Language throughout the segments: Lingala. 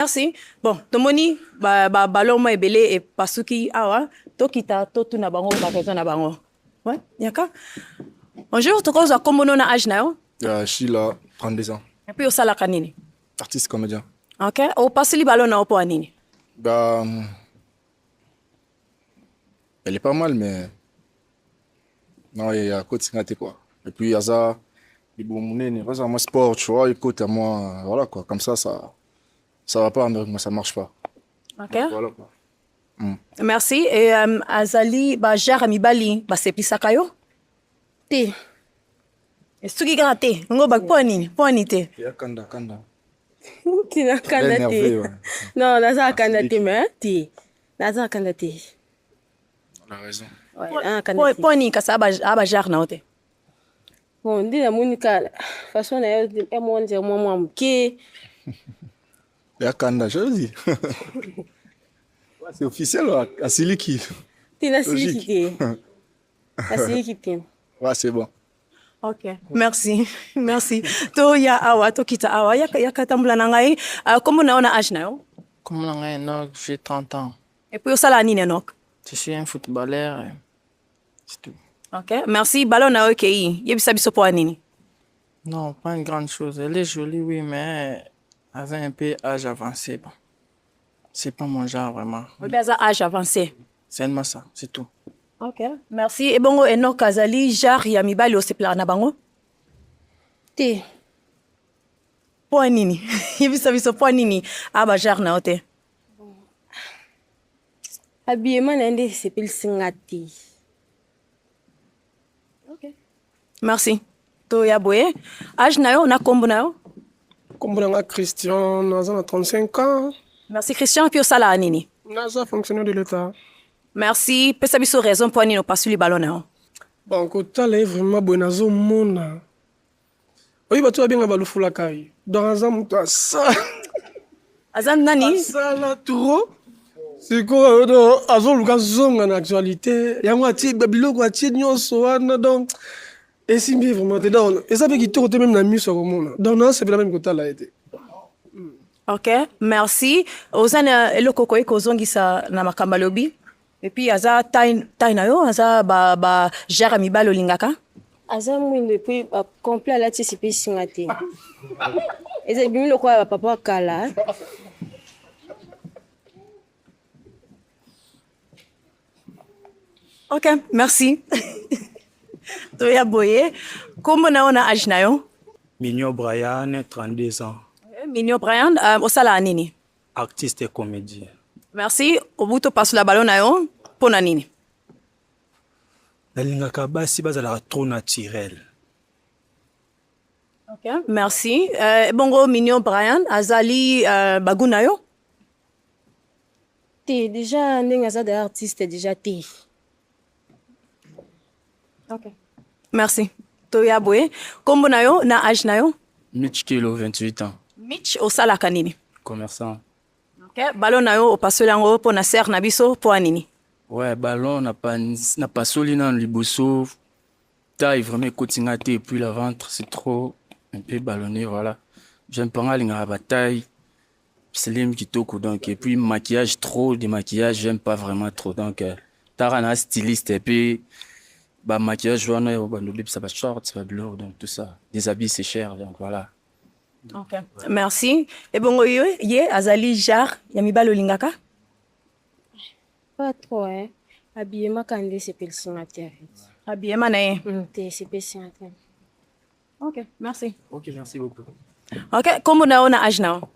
Merci. Bon, tomoni ba ba ballon ma ebele e pasuki awa tokita totuna bango ba raison na bango. Ouais, yaka. Bonjour, tokozwa kombo no na âge na yo? Ya Sheila, 32 ans. Et puis osalaka nini? Artiste comédien. OK. Opasoli ballon na yo mpo ya nini? Bah, hum, elle est pas mal, mais non, il y a côté Singate quoi. Et puis Yaza, il est bon monene, Yaza moi sport, tu vois, il côté à moi, voilà quoi, comme ça, ça, ça va pas moi ça marche pas OK voilà quoi mm. merci et um, azali ba jara mibali baseplisaka yo te esuki kaka te yango ba mpo nini mpo nini te kanda kanda tina kanda te non naza kanda te me te naza kanda te mpo nini kasi aba jare na yo te Bon, nde namoni kala façon na yo ya mwa nzela mwa mwa moke ya kanda jodi c'est officiel asiliki te nasiliki te asiliki te wa c'est bon ok merci merci toya awa tokita awa yaka tambula na ngai ah, kombo na yo na age na yo kombo na ngai enok j'ai 30 ans epuis osala nini enok je suis un footballeur Ok, merci. Ballon na yo kei. Yebisa biso po nini? Non, pas une grande chose. Elle est jolie, oui, mais elle a un peu âge avancé. Bon. C'est pas mon genre vraiment. Oui, mais elle a âge avancé. C'est seulement ça, c'est tout. Ok, merci. Et bon, Enoch Kazali, genre ya mibali osepelaka na bango? Te. Po nini? Yebisa biso po nini? Ah ba genre na yo te. Habillement na ye nde esepelisi nga te. Merci. Toya boye. Âge na yo na kombo na yo? Kombo na nga Christian, naza na 35 ans. Merci Christian, puis osala nini? Naza fonctionnaire de l'État. Merci, pesa biso raison mpo nini opasuli ballon na yo. Bon, kotala ye vraiment boye nazomona oyi bato babenga balufulakai donc aza moto asa aza nani asala trop sikoyo do azoluka zonga na actualité yango atie biloko atie nyonso wana donc esimbi ye vraiment te donc eza mpe kitoko te meme na miso ya komona donc nasepela meme kotala ye te ok merci oza na eloko okoki kozongisa na makambo alobi epuis aza tai na yo aza bajare ya mibale olingaka aza mwindo epuis complet alati sipi esinga te eza ebimi lokola bapapa ya kala ok merci toya boye nkombo na yo na age na yo mignon brian 32 ans eh, mignon brian euh, osalaka nini artiste et comédien. Merci. Obuto pasula balo na yo mpo na nini? Nalingaka basi bazalaka trop naturel. Okay. Merci. Euh, bongo Mignon Brian azali euh, bagu na yo? Te, déjà ndenge aza de artiste déjà te. Okay. Merci. Toya boye. Kombo na yo na age na yo? Mitch Kilo 28 ans. Mitch osalaka nini? Commerçant. Okay. Ballon na yo opasoli yango mpo na serre na biso mpo nini? Ouais, ballon na pa na pasoli na liboso taille vraiment ekoti nga te puis la ventre c'est trop un peu ballonné voilà. J'aime pas nga lingaka ba taille Slim kitoko donc et puis maquillage trop de maquillage j'aime pas vraiment trop donc euh, tara na styliste et puis ba maquillage wana yo ba ndobi ça ba shorts ba blur donc tout ça des habits c'est cher donc voilà okay. merci et bongo yo ye azali genre ya mibali olingaka pas trop hein habillement kande sepelisi nga te habillement na ye mm, te sepelisi nga te Ok, merci. Ok, merci beaucoup. Ok, kombo na yo na age na yo?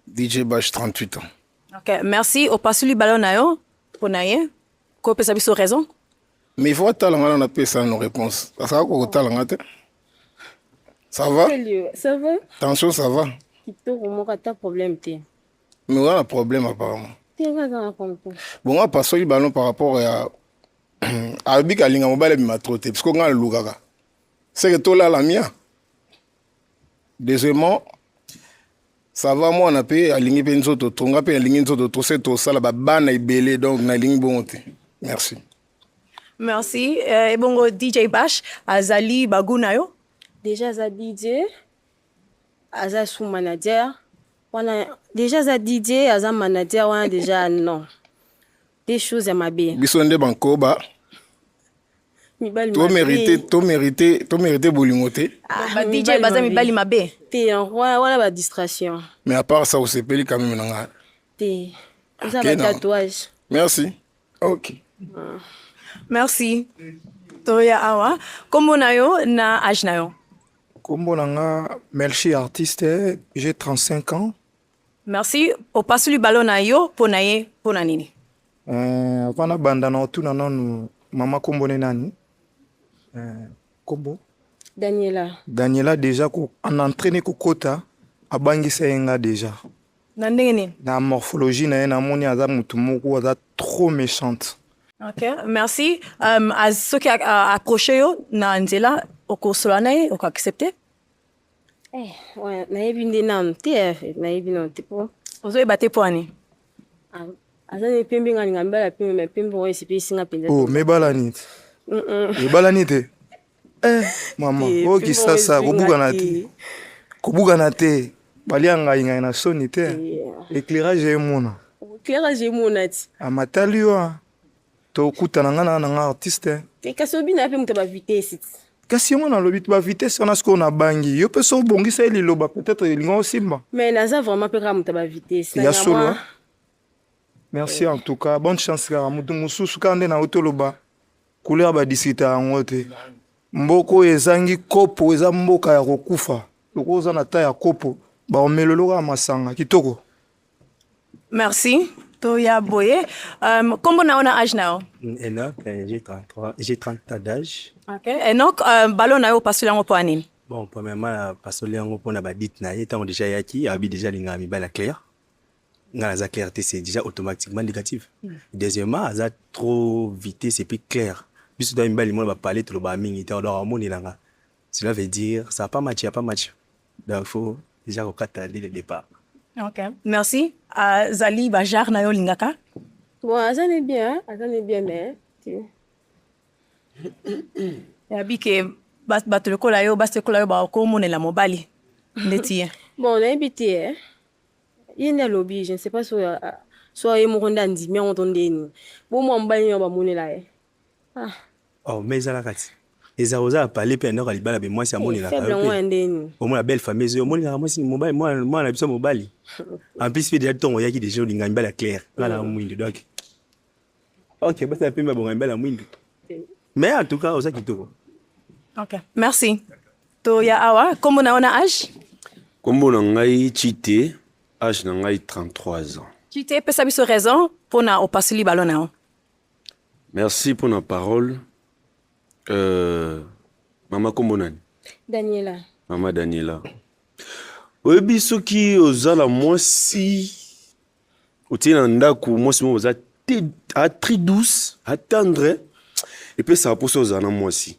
DJ Bash 38 ans. Ok, merci. Opasuli ballon na yo mpo na ye kopesa biso raison? Mais il faut atala nga na napesa no réponse. Asaka kokotala nga te. Ça va? Ça va? Tension, ça va? Kitoko moko ata problème te. Mais wana problème apparemment. Te nga aza na konko. Bon, nga pasoli ballon par rapport ya alobi kalinga mobali abima trop te parce que nga nalukaka. seke tolala mia deuxièmement sava mwana mpe alingi mpe nzoto to nga mpe alingi nzoto to se tosala babana ebele donc nalingi bongo te merci merci euh, ebongo dj bash azali bagu na yo déjà aza dj aza sous manager wana déjà aza dj aza manager wana déjà non Des choses ya mabe. Biso nde bankoba. To mérité, to mérité, to mérité bolingo te. Ah, ba DJ baza mibali mabe. Te yango wana ba distraction. Mais à part ça osepeli quand même na nga. Te. Oza ba tatouage. Merci. OK. Ah. Merci. Toya awa. Kombo na yo na âge na yo. Kombo na nga Melchi artiste, j'ai 35 ans. Merci. Opasuli balo na yo mpo na ye mpo na nini? Eh, avant nabanda na otuna nanu mama kombo ne nani eh, kombo daniela daniela deja ko, en entraîne kokota abangisa ye nga deja na ndenge nini na morphologie na ye namoni aza motu moko aza trop méchante ok merci um, soki accroche yo na nzela okosola na ye okoaccepte Eh, ouais, nayebi nde nanu te eh, nayebi nanu te po ozoyeba te mpo ani ah, aza nde pembe nga linga mibala pembe me pembe oyo esepelisi nga mpenza oh, mebalani te mebalani te eh, mama oyo oh, kisasa kobukana te kobukana te balia ngai ngai na soni te éclairage emona éclairage emona ti amatali ah, yo ah. tokutana nga na nanga artiste eh, kasi obina yape moto ya bavitesi kasi yango nalobi bavitesi wana sikoyo nabangi yo mpe so obongisa ye liloba peut-être elinga osimba mais naza vraiment mpe kaka moto ya bavitesi ya solo eh? merci eh. en tout cas bonne chance kaka moto mosusu kaka nde nauti oloba couleur badisita yango te mboka oyo ezangi kopo eza mboka ya kokufa lokola oza na ta ya kopo baomeloloka masanga kitoko Merci. Toya Boye. Euh, comment on a âge now? Mm, Enoch, euh, j'ai 33, j'ai 30 ans d'âge. OK. Enoch, euh, ballon na yo pasoli yango pona nini? Bon, premièrement, euh, pasoli yango pona ba dit na ye tango déjà yaki, abi déjà linga mi bala clair. Nga la clarté c'est déjà automatiquement négatif. Mm. Deuxièmement, aza trop vitesse et puis clair. Biso da mi bali mo ba parler trop ba mingi, tango do amoni langa. Cela veut dire ça pas match, pas match. Donc faut déjà kokata dès le départ. OK. Merci. Uh, zali ba jar na yo lingaka. Bon, aza ne bien, aza ne bien mais. Ya bike bato lokola yo basi lokola yo bakomonela mobali ndeti ye bon nayebi te eh. ye nde alobi je ne sais pas soki soki ye moko nde andimi yango to ndeni bo mwa mobali nini bamonela ye Ah. Oh, mais ezala kati. Eza oza pale pe ndako libala be mwasi amonela ka. Faible ngwa ndeni. Omona belle famille ezo omonela mwasi mobali mwana mwana biso mobali. En plus pe déjà tongo yaki déjà olinga mbala clair. Ngala mm. mwindu donc. Ok, basa pe mabonga mbala mwindu. Mais en tout cas oza kitoko. Ok, merci. To ya awa kombo na ona âge? Kombo na ngai Chite, âge na ngai 33 ans. Chite pesa biso raison pona opasuli ballon na yo. Merci pour la parole. Euh, mama kombo nani? Daniela. Mama Daniela. Oyebi soki oza na mwasi otie na ndako mwasi moko oza très douce, attendre et puis ça pour ça oza na mwasi.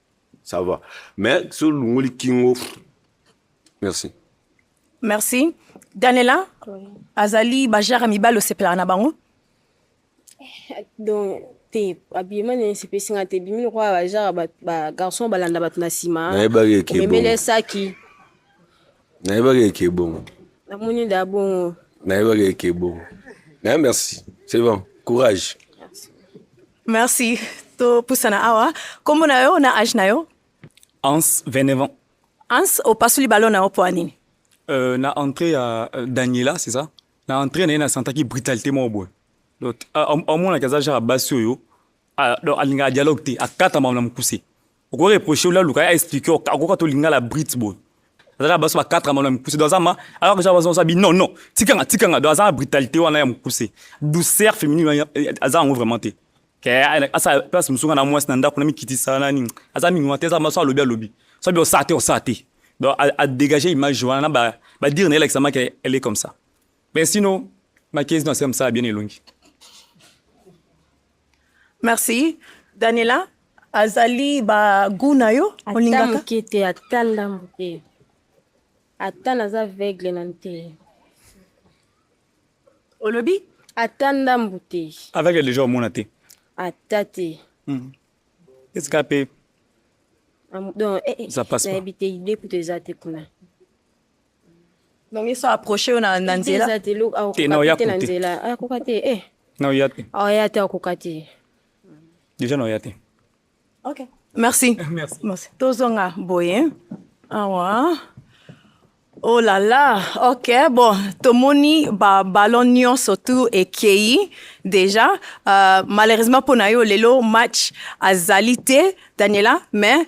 ça va mais so olongoli kingo merci merci danela oui. azali bajara mibali osepelaka na bango eh, donc te abima na esepesi nga te ebimi lokola bajara bagarçon balanda bato na nsima omemeli esaki nayebaka eke ebongo namoni nde abongo nayebaka eke ebongo naye merci c'est bon courage merci topusana awa nkombo na yo na age na yo ans 29 ans ans opasoli balo na yo mpo ya nini euh, na entrée ya euh, daniela c'est ça na entrée na ye nasantaki brutalité moko boye donc amonaki aza genre ya basi oyo ah, donc alingaka dialogue te akatama na mokuse oko reprocher ola luka ya expliquer akoka to lingala brit boy azaka baso ba 4 amana mukuse do azama alors que baso sabi non non tikanga tikanga do azama brutalité wana ya mukuse douceur féminine azanga ngo vraiment te ke asa place musunga na mwasi na ndako na mikitisa na nini aza mingi wana te aza baso alobi alobi sabi osa te osa te donc à, à dégager image wana ba ba dire na elakisama ke elle est comme ça mais sinon ma case non c'est comme ça bien elongi Merci. Daniela, azali ba goût na yo olingaka? Ata moke te, ata ndambo te. Ata naza aveugle na nte. Olobi? Ata ndambo te. Aveugle déjà omona te? Ata te. Hmm. Est-ce que ape? Donc, eh, eh, nayebi te idée kutu eza te kuna. donc ye so approche yo na na nzela eza te loko Te, na oya akoka te na kote. nzela akoka te eh na oya te aya te akoka te deja na oya te ok merci Merci. merci tozonga boye awa oh la la ok bon tomoni ba ballon nyonso tu ekei déjà euh, malheureusement mpo na yo lelo match azali te daniela mais